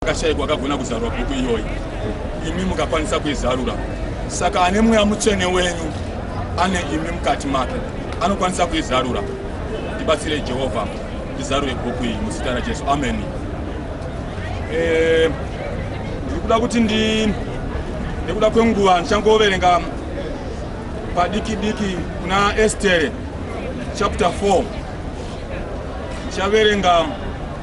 Akashaikwa akagona kuzarura bhuku iyoyi, imi mukakwanisa kuizarura. Saka ane mweya mutsvene wenyu ane imi mukati make, anokwanisa kuizarura. Ndibatsirei Jehovha, ndizarure bhuku iyi muzita raJesu, ameni. Eh, ndiri kuda kuti ndi nekuda kwenguva ndichangoverenga padiki diki kuna Estere chapter 4 ndichaverenga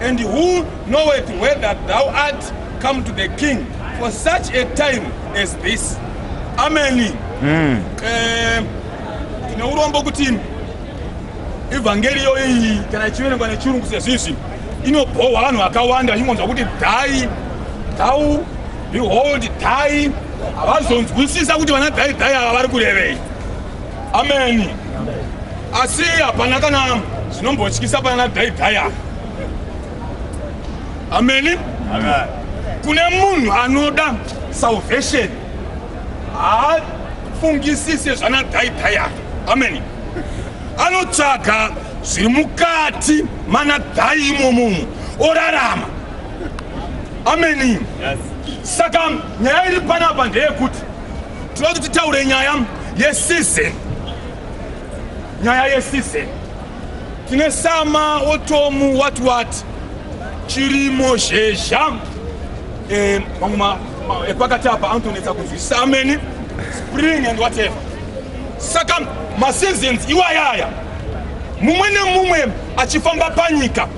And who knoweth whether thou art come to the king for such a time as this. Ameni. Mm. Eh, tine urombo kuti evhangeriyo iyi kana ichiverengwa nechirungu sezvizvi inobhohwa vanhu vakawanda vachingonzwa kuti dhai dhau behold dhai havazonzwisisa kuti vana dhai dhai ava vari kurevei ameni asi hapana kana zvinombotyisa pana dhaidhaya ameni kune munhu anoda salvation haafungisise zvana dhaidhaya ameni anotsvaga zviri mukati mana dhai imomomo orarama ameni saka nyaya iri panapa ndeyekuti tinoda kuti taure nyaya yesize nyaya yesize tine sama wotomu wati wati chirimo zhezha eh, mamwe epakati eh, apa anotonetsa kunzwi sameni spring and whatever saka maseasons iwayaya mumwe nemumwe achifamba panyika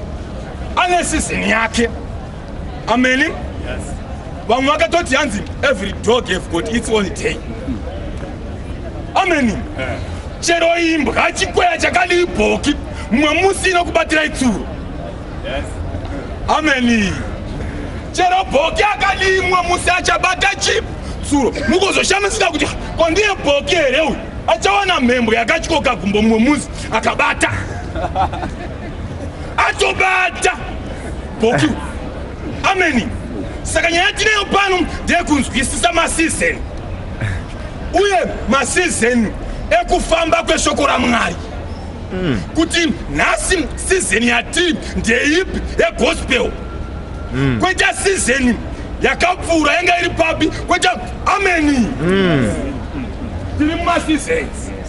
ane season yake ameni yes. vamwe vakatoti hanzi every dog have got its own day ameni eh. chero imbwa chikweya chakadii bhoki mumwe musi inokubatira itsuro yes. ameni chero bhoki akadii mumwe musi achabata chitsuro mukuzoshamisika kuti kwandiye bhoki here uyu achawana mhembwe yakatyoka gumbo mumwe musi akabata atobata boku ameni saka nyaya tineyo pano ndekunzwisisa masizeni uye masizeni ekufamba kweshoko ramwari mm. kuti nhasi sizeni yatiri ndeipi yegospel mm. kweta sizeni yakapfuura yanga iri papi kweta ameni mm. tiri mumasizeni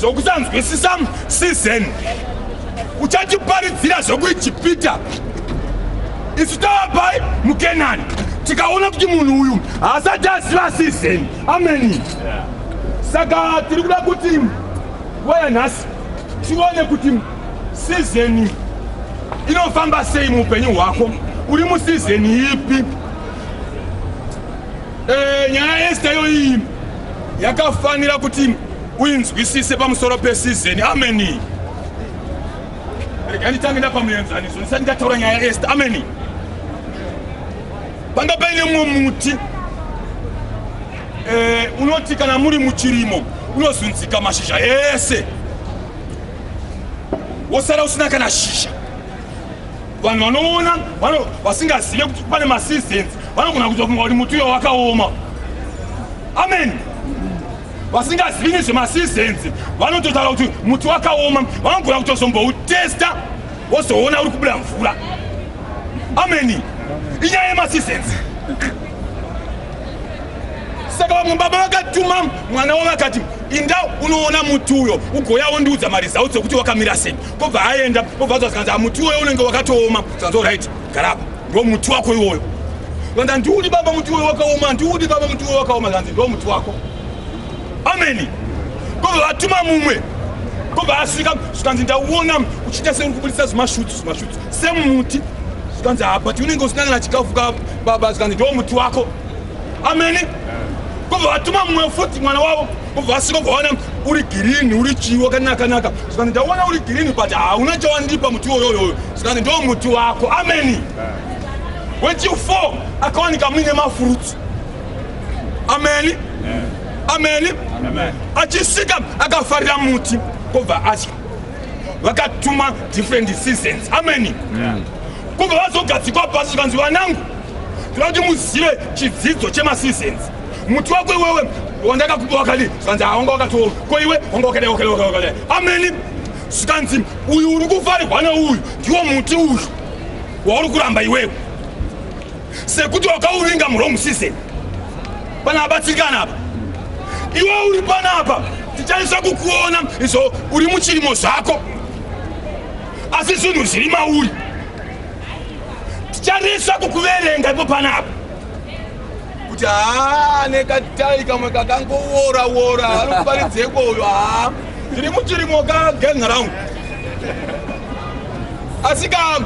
zvokusanzwisisa season uchatiparidzira zvekuijipita isu tavapai mukenani tikaona kuti munhu uyu haasati aziva season ameni saka tiri kuda kuti nguva yanhasi tione kuti season inofamba sei muupenyu hwako uri museason ipi eh, nyaya yesita yoiyi yakafanira kuti uinzwisise pamusoro pesizeni ameni rega nditange ndapa muenzaniso ndisati ndataura nyaya yaeste ameni panga paine mumwe muti eh, unoti kana muri muchirimo unozunzika mashizha ese wosara usina kana shisha vanhu vanoona vasingazive kuti pane maseasons vanogona kuita kunga kuti muti uyo wakaoma amen vasingazivi nezvemaseasons vanototaura kuti muti wakaoma vanogona kutozomboutesta wozoona uri kubuda mvura ameni inyaya yemaseasons saka vamwe baba vakatuma mwana wavo vakati inda unoona muti uyo ugoya wondiudza maresults ekuti wakamira sei Kobva aenda kobva zvazikanzi amuti uyo unenge wakatooma zvanzo right garapa ndo muti wako iwoyo vanga ndiudi baba muti uyo wakaoma ndiudi baba muti uyo wakaoma zvanzi ndo muti wako ameni kobva vatuma mumwe kobva asvika zvikanzi ndauona uchiita seuri kubudisa zvimashutu zvimashutu semuti zvikanzi ha but unenge usinangana chikafu ka baba zvikanzi ndo muti wako ameni kobva vatuma mumwe futi mwana wavo kubva asiko kwaona uri girini uri chii wakanakanaka zvikanzi ndaona uri girini but hauna chawandipa muti woyoyoyo zvikanzi ndo muti wako ameni wechiu four akawanika muine mafurutsu ameni ameni achisvika akafarira muti kobva atya vakatuma different seasons ameni kobva vazogadzikwa pasi zvikanzi vanangu tinoda kuti muzive chidzidzo chemaseasons muti wako iwewe wandakakupa wakadi zvanzi hawanga wakatooma ko iwe wanga wakadai wakadai wakadai wakadai ameni zvikanzi uyu uri kufarigwa neuyu ndiwo muti uyu wauri kuramba iwewe sekuti wakauvinga murong season pana abatsirikana apa iwe uri panapa tichaisa kukuona izvo uri muchirimo zvako asi zvinhu zviri mauri ticharisa kukuverenga ipo panapa kuti haa ane katai kamwe kakangowora wora anokuparidzeko uyo haa tiri muchirimo ka gang round asi ka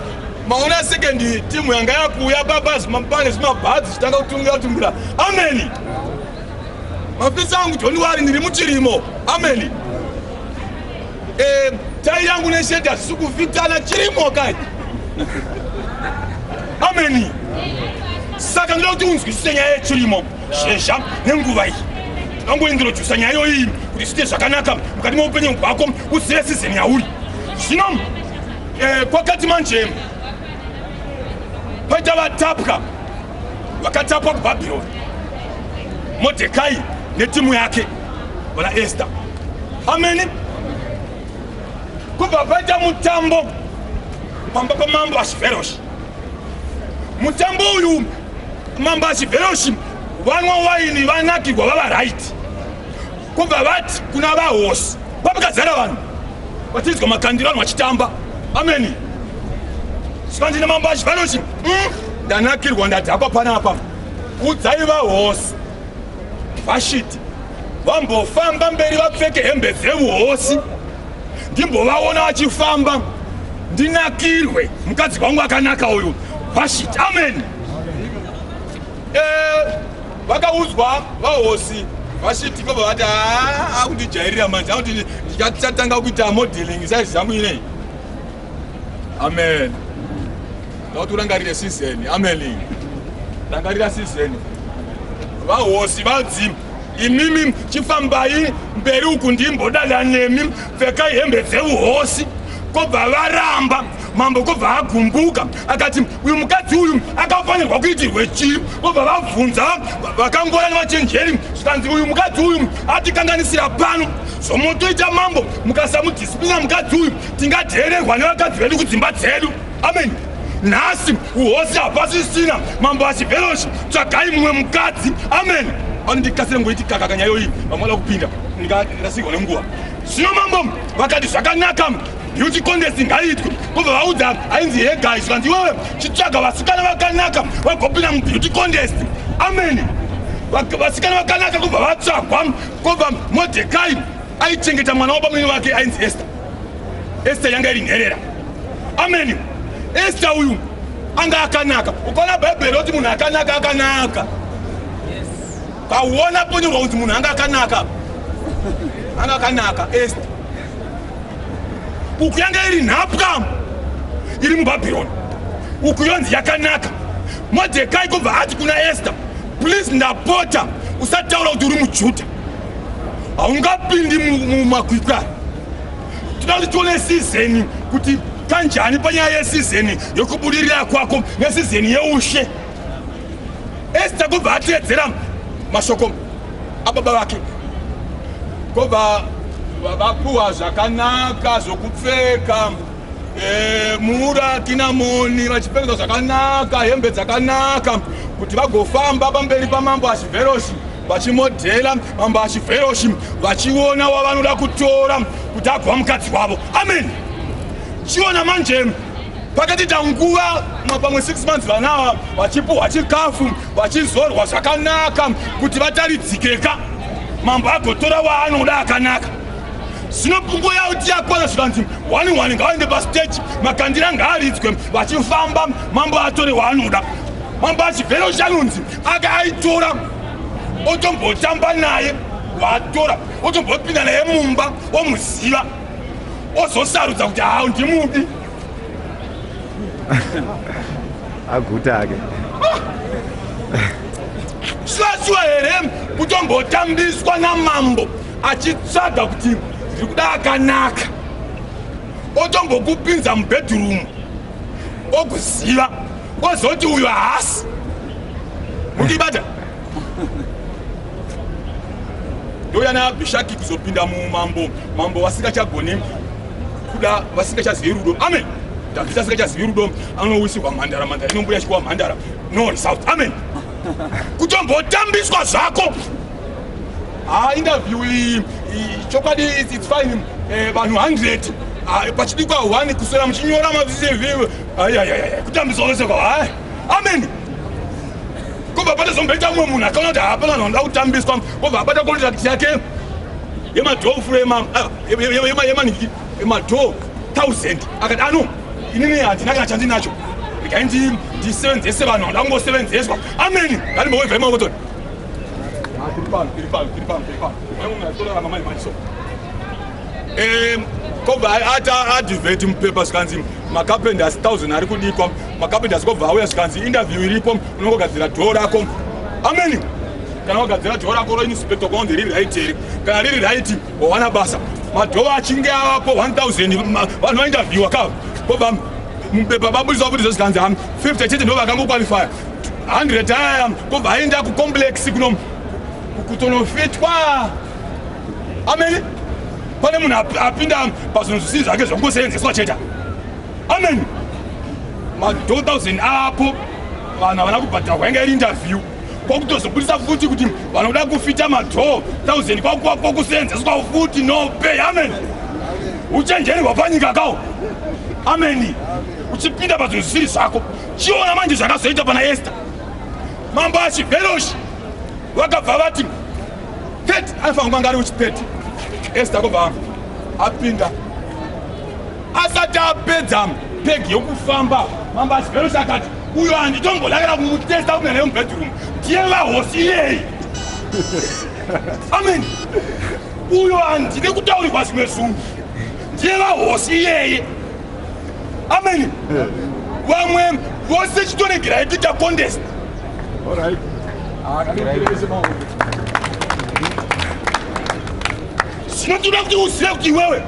maona sekendi timu yanga yakuuya papa pane zvimabhazi zvitanga kutungira tumbira ameni mafisa angu joni wari ndiri muchirimo ameni Eh, tai yangu nesheti hatisi kuvhitana chirimo kai ameni saka ndoda kuti unzwisise nyaya yechirimo shezha nenguva iyi angoingirojusa nyaya iyoyi kuti zviite zvakanaka mukati meupenyu hwako uzive sizeni yauri zvino eh, kwakati manje paita vatapwa vakatapwa kubhabhironi modhekai netimu yake Bwana Esther. Ameni. Kubva paita mutambo pamba pamambo Ashiveroshi. Mutambo uyu mambo Ashiveroshi vanwa waini vanakirwa vava right. Kubva vati kuna vahosi kwapakazara vanhu vachinzwa makandiro vanhu vachitamba. Ameni. Svanzi namambo Ashiveroshi. Mm. Ndanakirwa ndadhakwa panapa. Udzai vahosi. Vashiti vambofamba mberi vapfeke hembe dzevuhosi ndimbovaona vachifamba ndinakirwe mukadzi wangu akanaka uyu vashiti amen eh, vakaudzwa vahosi vashiti vabva vati haa ah, akundijairira manje akuti ndichatanga kuita modeling saizi zangu inei amen tauti urangarire sizeni amen rangarira sizeni vahosi vadzimu imimi chifambai mberi uku ndimbodada nemi pfekai hembe dzeuhosi kobva varamba mambo kobva agumbuka akati uyu mukadzi uyu akafanirwa kuitirwe chii kobva vabvunza vakangora nevachenjeri zvikanzi uyu mukadzi uyu atikanganisira pano zvomotoita mambo mukasamudhisiplina mukadzi uyu tingateererwa nevakadzi vedu kudzimba dzedu amen nhasi uhosi hapasisina mambo asiveroshi tsvagai mumwe mukadzi amen andikasire ngoiti kaka kanyayo iyi vamwe vada kupinda ndikarasigwa nenguva zvino mambo vakati zvakanaka beauty contest ngaiitwe kubva vaudza ainzi he guys kanzi iwewe chitsvaga vasikana vakanaka vagopinda mubeauty contest amen vasikana vakanaka kubva vatsvagwa kubva modhekai aichengeta mwana wabamwini vake ainzi ester Esther yanga iri nherera. Amen. Esther uyu anga akanaka. Ukaona Bible roti munhu akanaka akanaka. Yes. Pauona ponyorwa kuti munhu anga akanaka. Anga akanaka Esther. Uku yanga iri nhapwa iri muBabylon. Uku yonzi yakanaka. Mordecai kubva ati kuna Esther, please ndapota usataura kuti uri muJuda. haungapindi mumakwikwi aya tinoti tione sizeni kuti kanjani panyaya yesizeni yokubudirira kwako nesizeni yeushe esta kubva ateedzera mashoko ababa vake kobva vapuwa zvakanaka zvokupfeka eh, mura kinamoni vachipfeka zvakanaka hembe dzakanaka kuti vagofamba pamberi pamambo achiverosi vachimodhela mambo achiveroshi vachiona wavanoda kutora kuti agova mukadzi wavo amen chiona manje pakati tanguva pamwe 6 months vanawa vachipuhwa chikafu vachizorwa zvakanaka kuti vataridzikeka mambo agotora waanoda akanaka zvino pfungo yavo tiyakwana zvikanzi wani wani ngavaende pasteji makandira ngaaridzwe vachifamba mambo atore waanoda mambo achibvero chanonzi akaaitora otombotamba naye waatora otombopinda naye mumba omuziva ozosarudza kuti hau ndimudi aguta ake sivasiwa here kutombotambiswa namambo achitsvaga kuti ndiri kuda akanaka otombokupinza mubhedhurumu okuziva ozoti uyu haasi mundibata ndouya naabhishaki kuzopinda mumambo mambo vasingachagone kuda vasingachazivi rudo amen dhavhidhi asingachazivi rudo anowisirwa mhandara mhandara inombuya chikuwa mhandara no result amen kutombotambiswa zvako ha ah, interview iyi chokwadi its fine eh, vanhu 100 ah, pachidikwa 1 kuswera muchinyora mavcv ayayaya kutambiswa vese kwa hai ameni kobva patazomboita mumwe munhu akaona kuti hapana vanhu vanoda kutambiswa kobva abata contract yake yemadhoo furo yemaniki ah, yemadhoo thousand akati ano inini handina kana chandinacho regai ndisevenzese vanhu vanoda kungosevenzeswa ameni ngandimbowevaimawotoni kobva adivheti mupepa zvikanzi makapend asi 1000 ari kudikwa makapend asi kobva auya zvikanzi interview iripo unongogadzira dhoo rako ameni kana wagadzira dhoo rako roinspector kwaunzi riri right here kana riri right wawana basa madhoo achinge avapo 1000 vanhu vainterviewa ka kobva mupepa babudisa kuti zvezvikanzi hami 50 chete ndo vakangokwalifaya 100 aya kobva aenda kucomplex kuno kutonofitwa amene pane munhu apinda pazvinhu zvisiri zvake zvakungoseenzeswa cheta amen ma2000 apo vanhu havana kubhadharwa yanga iri interview kwakutozobudisa futi kuti vanoda kufita ma2000 kwakuseenzeswa futi no pay amen uchenjeri hwapanyika kawo ameni uchipinda pazvinhu zvisiri zvako chiona manje zvakazoita pana esta mambo achiveroshi vakabva vati pet anofanira kanga ari uchipet esta kobva apinda asati apedza pegi yokufamba mambo achiveroshi akati uyo handitombolakira kumutesta kunyana yomubedroom ndiye vahosi iyeyi amen uyo handide kutaurirwa zvimwe zungu ndiye vahosi iyeye ameni vamwe vose chitoregerai kuita contest zvino toda kuti uzive kuti iwewe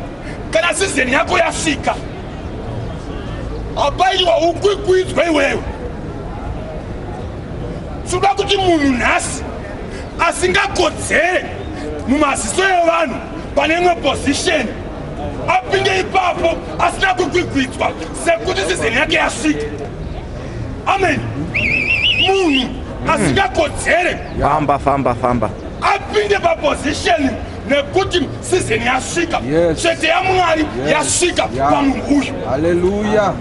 kana sizeni yako yasvika hapaitwa ukwikwidzwa iwewe tinoda kuti munhu nhasi asingakodzere mumaziso evanhu pane imwe pozisheni apinde ipapo asina kugwigwidzwa sekuti sizeni yake yasvika amen munhu asingakodzere famba famba famba apinde paposisheni nekuti sizeni yasvika chete yamwari yasvika pamunhu uyu haleluya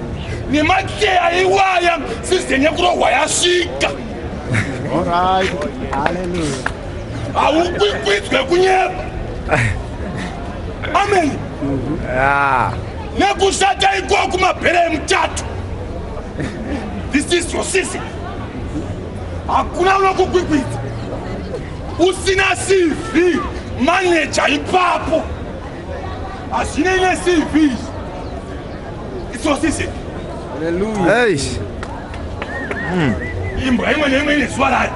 nemakeya iwaya sizeni yekurohwa yasvika haukwikwidzwe kunyepa amen ah. nekushata ikoku mabhera emutatu this is your season hakuna unokukwikwidza usina cv maneja ipapo hazvinei necv izvi it's your season Hallelujah. Hey. mm. imbwa imwe neimwe ine zuva rayo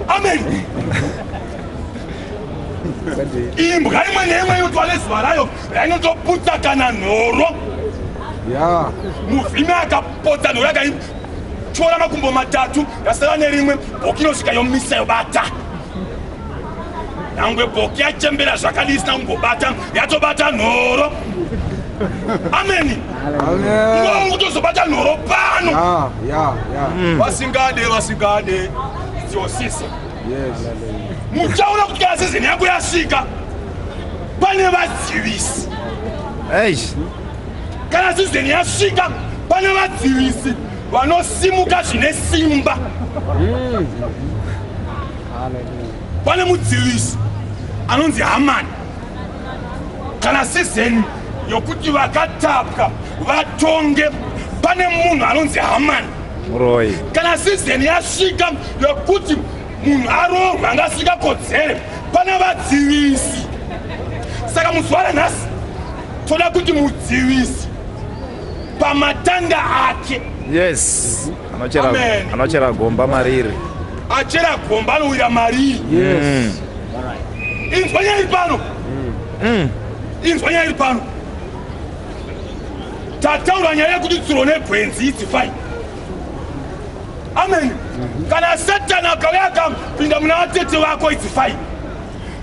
amen imbwa imwe neimwe inotwa nezuva rayo rainotoputsa kana nhoro muvhimi akapotsa nhoro yakaityora makumbo matatu yasara nerimwe bokinosvika yomisa yobata nyangwe boki yachembera zvakadii isina kumbobata yatobata nhoro ameni ngova kutozobata nhoro pano hmm. vasingade vasingade dziosisa muchaona kuti kana sizini yako yasvika pane vadzivisi kana sizini yasvika pane vadzivisi vanosimuka zvine simba hmm. pane mudzivisi anonzi hamani kana sizeni yokuti vakatapwa vatonge pane munhu anonzi hamani muroi kana sizeni yasvika yokuti munhu aroorwa anga asikakodzere pana vadzivisi saka muzuva ranhasi toda kuti mudzivisi pamatanga ake yes Anochera, Amen. anochera gomba mariri. achera gomba anowira mariri Yes. inzwa nyaya iri pano inzwa nyaya iri pano tataura nyaya yekuti tsuro negwenzi idzi fai amen kana satani akauya akapinda muna vatete vako idzi fai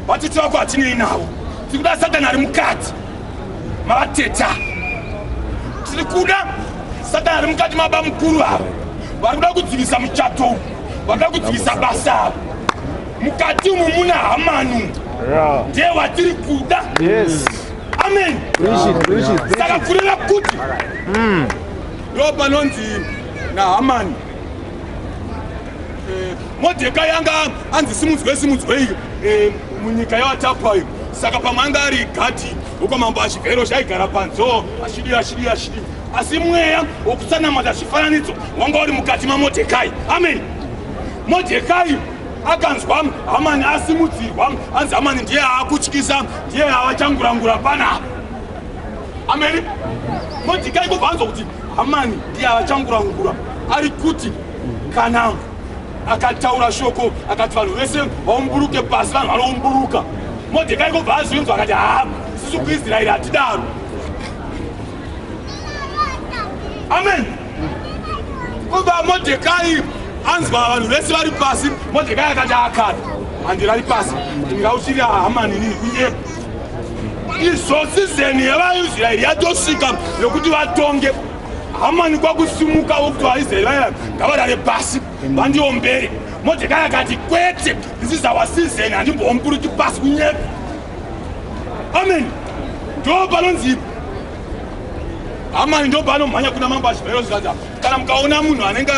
Vatete vako hatinei navo, tiri kuda Satani ari mukati mavateta, tiri kuda Satani ari mukati mababa mukuru ava, vari kuda kudzivisa muchato uyu, vari kuda kudzivisa basa ava. Mukati umu muna Hamanu, ndiye watiri kuda. Yes. Amen. Saka kureva kuti hmm. ndo panonzi naHamani Eh, Modhekai anga anzi simudzwei simudzwei eh, munyika yavatapwa iyo saka pamwe anga ari gadhi wokwamambo achivhero chaigara panzoo achidii achidii achidii asi mweya wokusanamata zvifananidzo wanga uri mukati mamodhekai amen modhekai akanzwa hamani asimudzirwa anzi hamani ndiye aakutyisa ndiye avachangurangura panapa ameni modhekai kubva anzwa kuti hamani ndiye avachangurangura ari kuti kana akataura shoko akati vanhu vese vaumburuke pasi vanhu vanoumburuka modhekai kobva azvinzwa akati haa sisi kuisraeri hatidaro amen kobva modhekai anzwa vanhu vese vari pasi modhekai akati akana handira ri pasi ndingauchiri hamanini ndiye izvozizeni yevaisraeri yatosvika yokuti vatonge hamani kwakusimukawo kuti vaisraeri vaya ngavarare pasi vandiombere modhekai akati kwete ndisizawa sizeni handimbomburuki pasi kunyepa amen ndo panonzi hamani ndo panomhanya kuna mambo achibvairo zvikanzi kana mukaona munhu anenge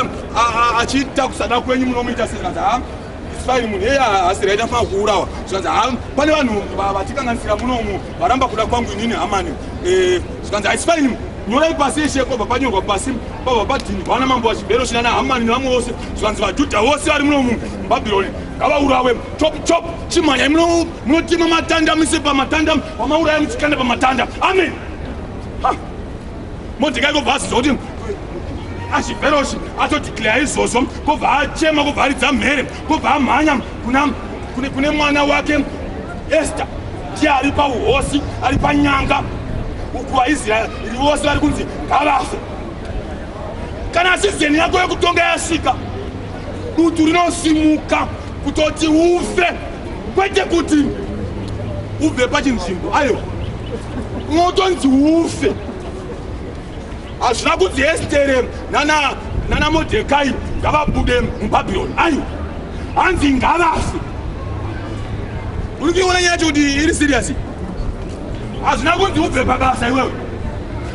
achiita kusada kwenyu munomuita sezvikanzi ha isfaini munhu eye asiraita fana kuurawa zvikanzi ha pane vanhu vatikanganisira munomu varamba kuda kwangu inini hamani eh, zvikanzi haisi paini nyorai pasi yeshe kwabva panyorwa pasi kwabva padhini vana mambo vachibhero chinana hamani nevamwe vose zvikanzi vajudha vose vari muno mubhabhironi ngavaurawe chop chop chimhanyai munotima matanda mise pamatanda vamauraya muchikanda pamatanda amen modhekai kobva aziza kuti achibheroshi atodhikleya izvozvo kobva achema kobva aridza mhere kobva amhanya kune mwana wake ester ndiye ari pauhosi ari panyanga uku vaisraeri iri vose vari kunzi ngavafe kana sizeni yako yekutonga yasvika dutu rinosimuka kutoti ufe kwete kuti ubve pachinzvimbo aiwa unotonzi ufe hazvina kunzi estere nana nana modhekai ngavabude mubhabhironi aiwa hanzi ngavafe uri kuiona nyaya yacho kuti iri siriyasi hazvina kunzi ubve pabasa iwewe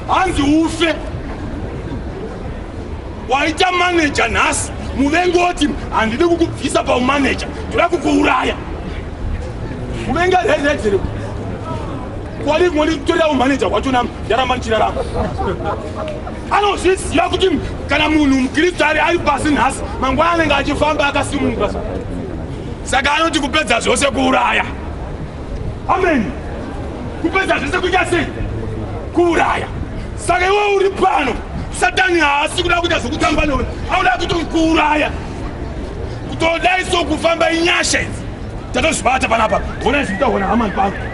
hanzi ufe waita maneja nhasi muvengi oti handidi kukubvisa paumaneja ndoda kukuuraya muvengi arezedzere Kwali ngoli kutorera umanager wacho nam ndaramba ndichirarama. Anozviziva kuti kana munhu mukristu ari ari pasi nhasi mangwana anenge achifamba akasimuka. Saka anoti kupedza zvose kuuraya. Amen. Kupedza zvose kuita sei? Kuuraya. Saka iwe uri pano satani haasi kuda kuita zvokutamba newe anoda kutokuuraya kutodai so kufamba inyasha idzi tatozvibata panapa honai zvikuta hona hamani pangu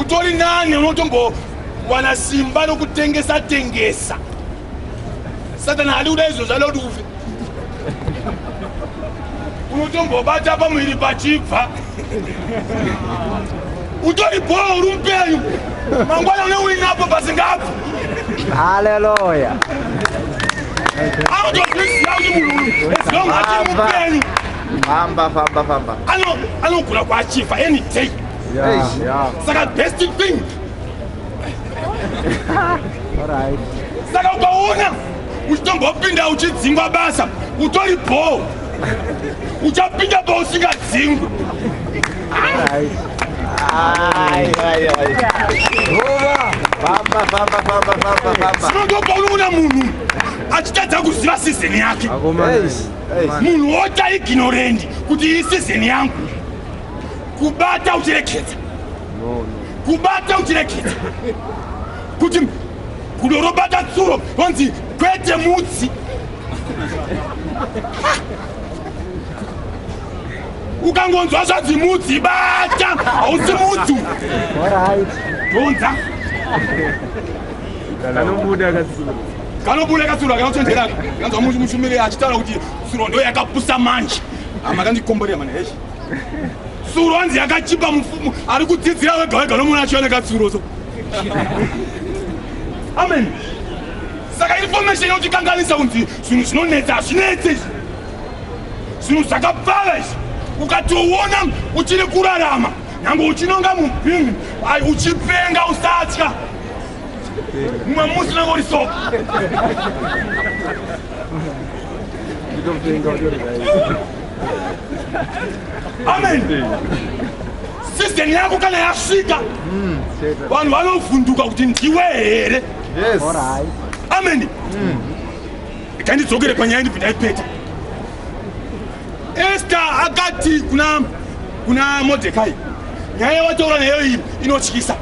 utori nani unotombowana simba rokutengesa tengesa satani hadi kuda izvo zvada kuti ufe unotombobata pamuviri pachibva utori bhoo uri mupenyu mangwana une uinapo pasingabvi haleluya anotozviziva kuti munhu uyu as long achiri mupenyu anogona kuachiva any day Yeah, yeah. Saka best thing. All right. Saka ukaona uchitombopinda uchidzingwa basa utori bho uchapinda bho usingadzingwi sinotopaunogona munhu achitadza kuziva sizeni yake munhu ota iginorendi kuti iyi sizeni yangu kubata uchirekedza kubata uchirekedza kuti gudo robata tsuro onzi kwete mutsi ukangonzwa zvanzi mudzi bata hausi mudzu donza kanobuda katsuro kanobuda katsuro akanochenjera kanzwa mushumiri achitaura kuti tsuro ndo yakapusa manje amakandikomborera mana heshe tsuro hanzi yakachipa mufumu ari kudzidzira wega wega nomuna achioneka tsuro so amen saka information yautikanganisa kunzi zvinhu zvinonetsa hazvinetse izvi zvinhu zvakapfava izvi ukatoona uchiri kurarama nyange uchinonga mubhingi uchipenga usatya mumwe musi unenge uri so amen sizeni yako kana yasvika hmm, vanhu vanovhunduka kuti ndiwe here amen ikandidzokere hmm. panyaya ndibvi ndaipeta esta akati kuna kuna modhekai nyaya yawataura nayo iyi inotyisa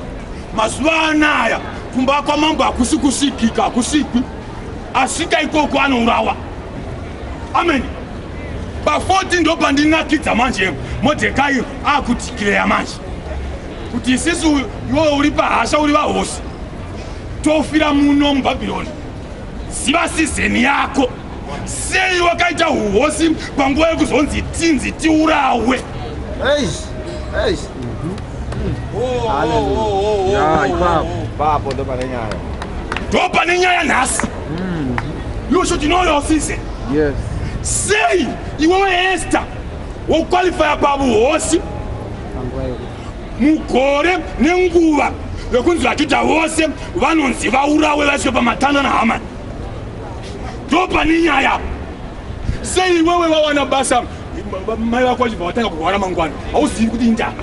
mazuva anaya kumba kwamambo hakusi kusvikika hakusvikwi asvika ikoko anourawa amen pa40 ndo pandinakidza manje modhekai akutikireya manje kuti isisi iwe uri pahasha uri vahosi tofira muno mubhabhironi ziva sizeni yako sei wakaita uhosi panguva yekuzonzi tinzi tiurawe ndo pane nyaya nhasi Mm. You should know your season. Yes. Say iwewe Esther woqualifya pavuhosi mugore nenguva yokunzi vajuda vose vanonzi vaurawe vaiswe pamatanda nahamani ndo pane nyaya sei iwewe wawana basa mai vako vachibva vatanga kurwara mangwana hauzivi kuti indava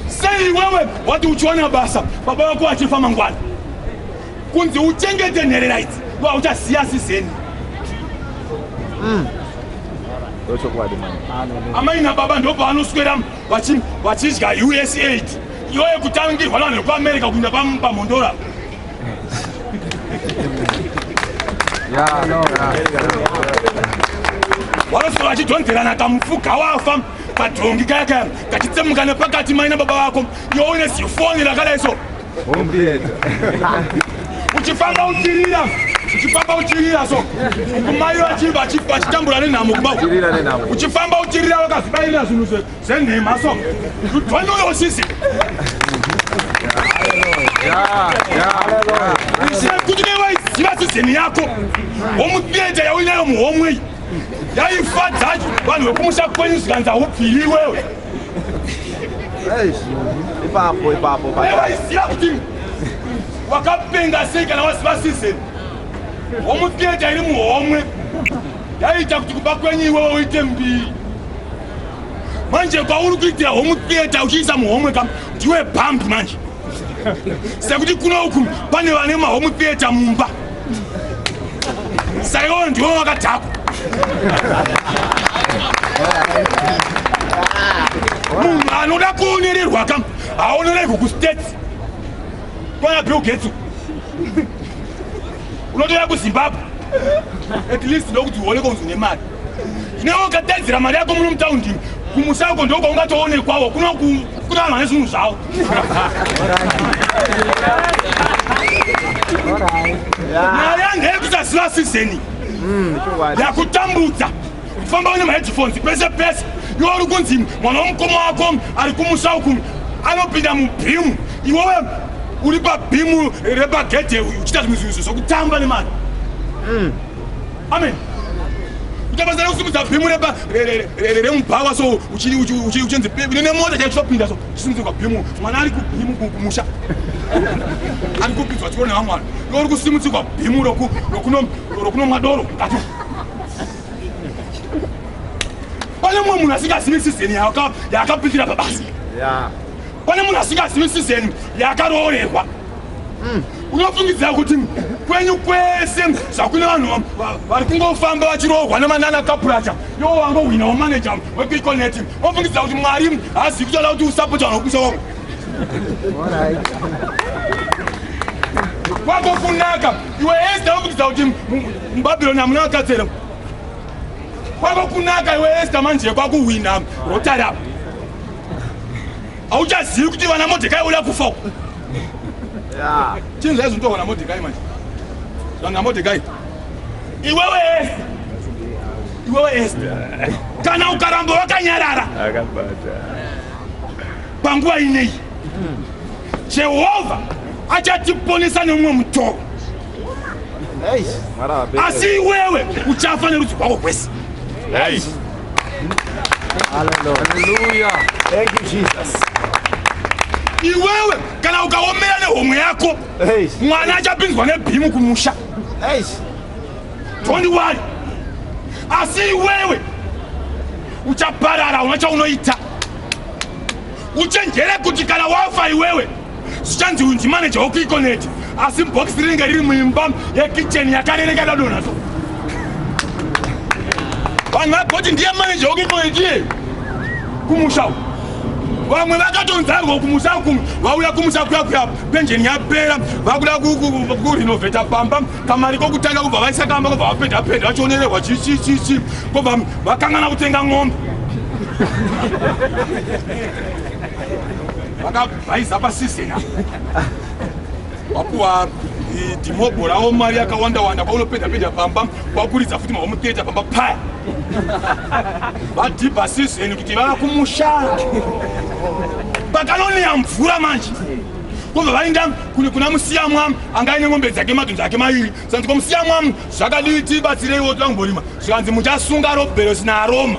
sei iwewe wati uchiwana basa baba vako vachifa mangwana kunzi uchengete nherera idzi vauchaziya sizeni mm. amai nababa ndopavanoswera vachidya usaid iyoye kutangirwa vanhu vekuamerica kuinda pamhondora wanosora achidhonzerana kamufuka wafa kadhongi kaya kaya kachitsemuka nepakati maina baba vako yoone zifoni rakadai so uchifamba uchirira uchifamba uchirira so kumai vachitambura nenhamo kuba uchifamba uchirira vakazibairira zvinhu zve Senhema so. You don't know your sisi. Yeah, yeah. Kuti nevaiziva sizeni yako womuteja yauinayo muhomwei yaifadza vanhu vekumusha kwenyu zvikanza upfiri iwewe ipapo ipapo vaiziva kuti wakapenga sei kana waziva sizeni womuteja iri muhomwe yaiita kuti kuba kwenyu iwewe uite mbiri manje pauri kuitira home theatre uchiisa muhomwe kam ndiwe bambi manje sekuti kuno uku pane vane mahome theatre mumba saka iwo ndiwo vakadhakwa munhu anoda kuonererwa kam haonererwi kustates kwana bill getsu unotoya kuzimbabwe at least ndokuti uone konzi nemari neokataidzira mari yako muno mutaundi kumusha uko ndoko ungatoonekwawo kuna vanhu vane zvinhu zvavo mari yange yekusaziva sizeni hmm, yakutambudza kufamba une maheadphones pese pese iwe uri kunzi mwana womukoma wako ari kumusha uku anopinda mubhimu iwewe uri pabhimu repagedhe uchita zvimwe zvinhu zvokutamba nemari hmm. Amen. Utabazara kusimudza bhimu reba remubhawa so uchinzi nene mota chaicho chopinda so chisimudze kwa bhimu mwana ari kubhimu kumusha ari kupinzwa chikoro nevamwana iwe uri kusimudzi kwa bhimu rokunomwa doro mukati pane mumwe munhu asingazivi sizeni yaakapindira pabasa pane munhu asingazivi sizeni yaakaroorerwa Mm. unofungidzira kuti kwenyu kwese zvakune vanhu vari kungofamba vachirohwa nemanana kapuracha yo wangohwina wamaneja wepiconet unofungidzira kuti mwari haazivi kutoda kuti usapota vanhu vekumusha wavo kwako kunaka iwe esta unofungidzira kuti mubabironi hamuna vakatsera kwako kunaka iwe esta manje kwakuhwina rotari apa hauchazivi kuti vana modhekai uya kufa uko chinhu zvaizi utohwa namodhekai manje zvanga namodhekai iwewe ese iwewe ese kana ukaramba wakanyarara panguva ineyi jehovha achatiponesa neumwe mutoro asi iwewe uchafa nerudzi rwako rwese Hallelujah. Thank you Jesus. Iwewe kana ukaomera nehomwe yako mwana achapinzwa nebhimu kumusha. Don't worry. Asi iwewe uchaparara una chaunoita. Uchenjere kuti kana wafa iwewe zvichanzi unzi maneja wekuikoneti asi bhokisi rinenge riri muimba yekicheni yakarereka dadona so vanhu vagoti ndiye maneja wekuikoneti iye kumusha uku vamwe vakatonzarwa kumusha kumwe vauya kumusha kuya kuya penjeni yapera vakuda kurinovheta pamba kamari kokutanga kubva vaisa kamba kobva vapenda penda vachionererwa chichichichi kobva vakangana kutenga ng'ombe vakabhaiza pasizina wapuwa dhimobho rawo mari yakawanda wanda kwaunopedza pedza pamba kwakuridza futi mavamuteta pamba paya vadhibha sizeni kuti vava kumusha pakanoniya mvura manje kubva vainda kuna musiyamwa anga aine ngombe dzake madhonzo ake mairi sanzi kwamusiyamwa zvakadii tibatsireiwo tvangu mborima zvikanzi muchasunga roberosi naaroma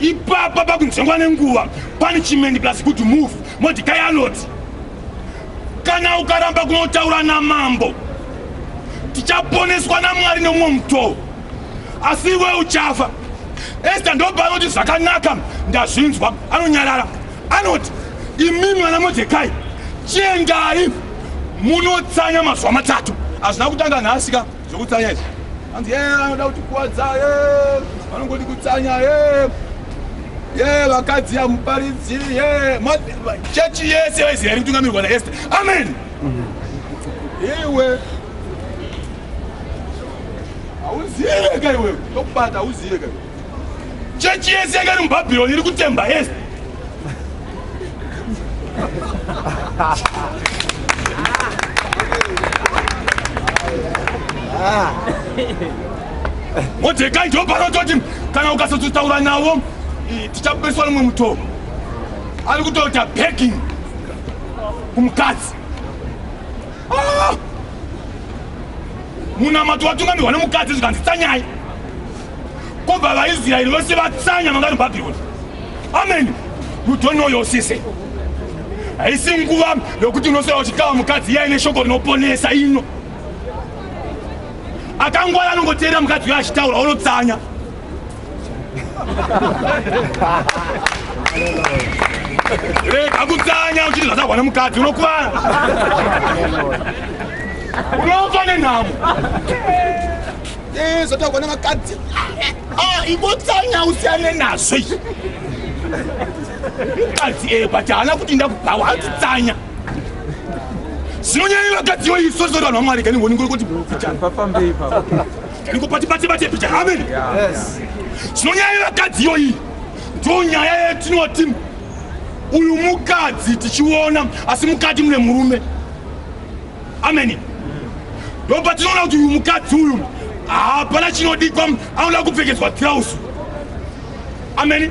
ipapa pakunzengwa nenguva punishment plus good move modikai anoti kana ukaramba kunotaura namambo tichaponeswa namwari nomumwe mutoo asi iwe uchafa esta ndopa anoti zvakanaka ndazvinzwa anonyarara anoti imi mwana modekai chiendai munotsanya mazuva matatu hazvina kutanga nhasika Zvekutsanya izvi. Hanzi yee anoda kuti kuwadza yee. Vanongoti kutsanya yee. Yee vakadzi ya muparidzi yee. Church yese yese yari kutungamirwa na Esther. Amen. Iwe. Auziye kai wewe. Tokubata auziye kai. chechi yese yanga iri mubhabhironi iri kutemba yese modhekai ndopanototi kana ukasototaura navo tichapeswa nomwe mutoo ari kutoita backing kumukadzi ah! munamato watungamirwa nemukadzi zvikanzi tsanyai Kubva vaIsraeri vose vatsanya vangari Bhabhironi. Ameni. You don't know your sise. Haisi nguva yokuti unosvira uchitawa mukadzi iya ine shoko rinoponesa ino. Akangwara anongoteerera mukadzi uyo achitaura unotsanya. Rega kutsanya uchiti zvasahwa nemukadzi unokuvara. Unofa nenhamo. Eh, zvotaurwa nevakadzi ah, ingotsanya usiyane nazvo izvi mukadzi e eh, but haana kuti ndakubhawa hatitsanya zvinonyanya vakadzi yo isu sori vanhu vamwari kani ngoni kuti ndikopatibatibate picha amen zvinonyanya vakadzi yo iyi ndo nyaya yetinoti uyu mukadzi tichiona asi mukati mune murume ameni ndopa tinoona kuti uyu mukadzi uyu hapana chinodikwa anoda kupfekedzwa tirausu ameni